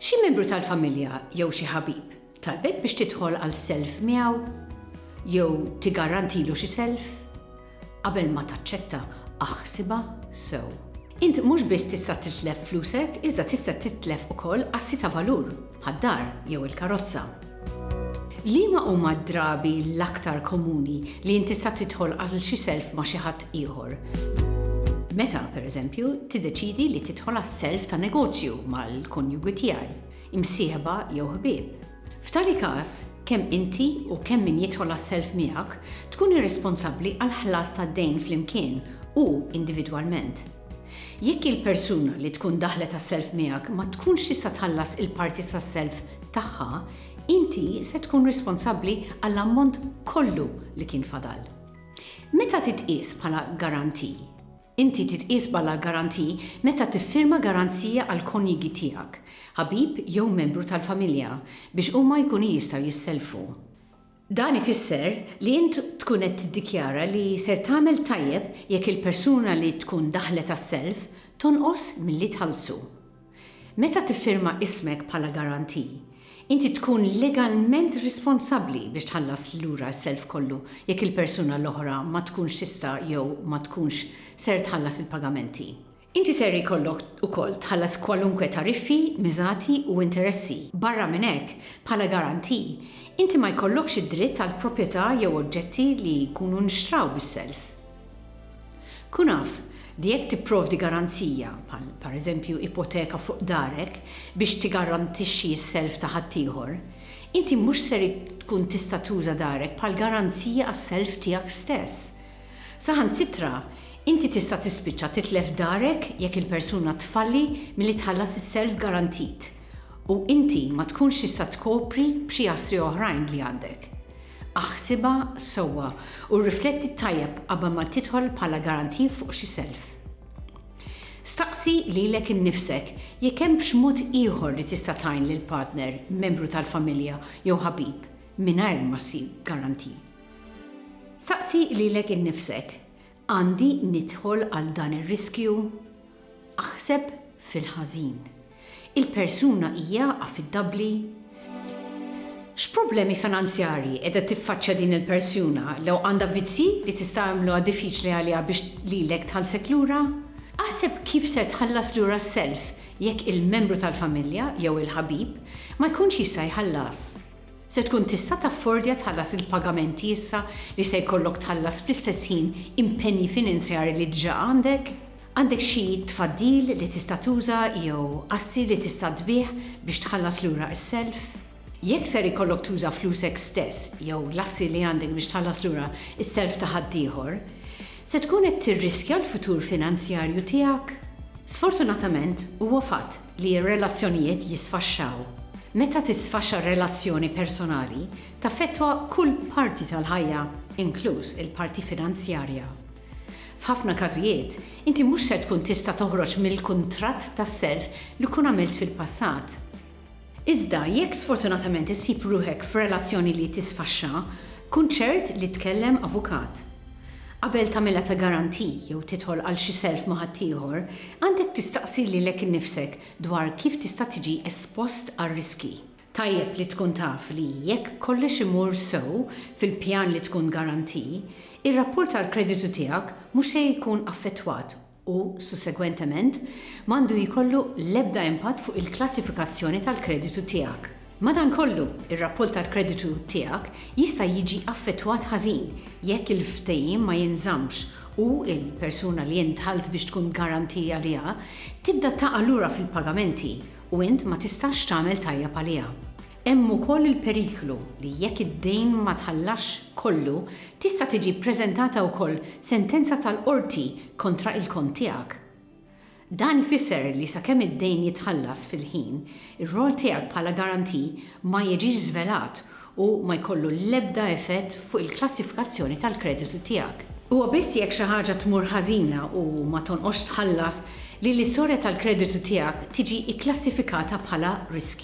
Xi membru tal-familja jew xi ħabib talbek biex tidħol għal self miegħu jew tigarantilu xi self? Qabel ma taċċetta, aħsibha sew. Int mhux biss tista' titlef flusek iżda tista' titlef ukoll assi ta' valur, bħad-dar jew il-karozza. Liema huma d-drabi l-aktar komuni li int tista' tidħol għal xi self ma' xi ħadd ieħor? Meta, pereżempju, tiddeċiedi li tidħol għas-self ta' negozju mal-konjugi tiegħi, imsieħba jew ħbieb. F'tali każ, kemm inti u kemm min jidħol għas-self miegħek tkun irresponsabbli għall-ħlas tad-dejn flimkien u individwalment. Jekk il-persuna li tkun daħlet għas-self miegħek ma tkunx tista' tħallas il-parti tas-self tagħha, inti se tkun responsabbli għall-ammont kollu li kien fadal. Meta titqies bħala garanti? Inti titqies bħala garanti meta tiffirma garanzija għall-konjugi tiegħek, ħabib jew membru tal-familja biex huma jkunu jistgħu jissellfu. Dan ifisser li int tkun qed tiddikjara li ser tagħmel tajjeb jekk il-persuna li tkun daħlet għas-self tonqos milli tħallsu. Meta tiffirma ismek bħala garanti, inti tkun legalment responsabbli biex tħallas lura s-self kollu jekk il-persuna l-oħra ma tkunx tista' jew ma tkunx ser tħallas il-pagamenti. Inti ser ikollok ukoll tħallas kwalunkwe tariffi, miżati u interessi. Barra minn hekk, bħala garanti, inti ma jkollokx id-dritt għal proprjetà jew oġġetti li jkunu nxtraw bis-self. Kun af li jekk tipprovdi garanzija, bħal pereżempju ipoteka fuq darek, biex tigarantixxi s-self ta' ħaddieħor, inti mhux ser tkun tista' tuża darek bħal garanzija għas-self tiegħek stess. Saħansitra, inti tista' tispiċċa titlef darek jekk il-persuna tfalli milli tħallas is-self garantit u inti ma tkunx tista' tkopri b'xi assi oħrajn li għandek. Aħsibha sewwa u rrifletti tajjeb qabel ma tidħol bħala guarantee fuq xi self. Staqsi lilek innifsek jekk hemmx mod ieħor li tista' tgħin lil partner, membru tal-familja jew ħabib mingħajr ma ssib guarantee. Staqsi lilek innifsek, Għandi nidħol għal dan ir-riskju? Aħseb fil-ħażin. Il-persuna hija affidabbli? X'problemi finanzjarji qiegħda tiffaċċja din il-persuna lew għandha vizzji li tista' jagħmluha diffiċli għaliha biex lilek tħallsek lura? Aħseb kif ser tħallas lura s-self jekk il-membru tal-familja jew il-ħabib ma jkunx jista' jħallas. Se tkun tista' taffordja tħallas il-pagamenti issa li se jkollok tħallas fl-istess ħin impenji finanzjarji li diġà għandek? Għandek xi tfaddil li tista' tuża jew assi li tista' tbigħ biex tħallas lura s-self? Jekk ser ikollok tuża flusek stess jew l-assi li għandek biex tħallas lura s-self ta' ħaddieħor, se tkun qed tirriskja l-futur finanzjarju tiegħek? Sfortunatament, huwa fatt li r-relazzjonijiet jisfaxxaw. Meta tisfaxxa relazzjoni personali, taffettwa kull parti tal-ħajja, inkluż il-parti finanzjarja. F'ħafna każijiet, inti mhux ser tkun tista' toħroġ mill-kuntratt tas-self li tkun għamilt fil-passat. Iżda, jekk sfortunatament issib ruħek f'relazzjoni li tisfaxxa, kun ċert li tkellem avukat. Qabel tagħmilha ta' garantie jew tidħol għal xi self ma' ħaddieħor, għandek tistaqsi lilek innifsek dwar kif tista' tiġi espost għar-riskji. Tajjeb li tkun taf li jekk kollox imur sew fil-pjan li tkun garantie, ir-rapport għall-kreditu tiegħek mhux se jkun affettwat u, sussegwentement, ma għandu jkollu l-ebda impatt fuq il-klassifikazzjoni tal-kreditu tiegħek. Madankollu, ir-rapport tal-kreditu tiegħek jista' jiġi affettwat ħażin jekk il-ftehim ma jinżammx u l-persuna li int dħalt biex tkun garanti għaliha tibda taqa' lura fil-pagamenti u int ma tistax tagħmel tajjeb għaliha. Hemm ukoll il-periklu li jekk id-dejn ma tħallasx kollu, tista' tiġi ppreżentata wkoll sentenza tal-qorti kontra il-kont tiegħek. Dan ifisser li sakemm id-dejn jitħallas fil-ħin, ir-rwol tiegħek bħala garanti ma jiġix żvelat u ma jkollu l-ebda effett fuq il-klassifikazzjoni tal-kreditu tiegħek. Huwa biss jekk xi ħaġa tmur ħażina u ma tonqosx tħallas li l-istorja tal-kreditu tiegħek tiġi kklassifikata bħala riskjuża.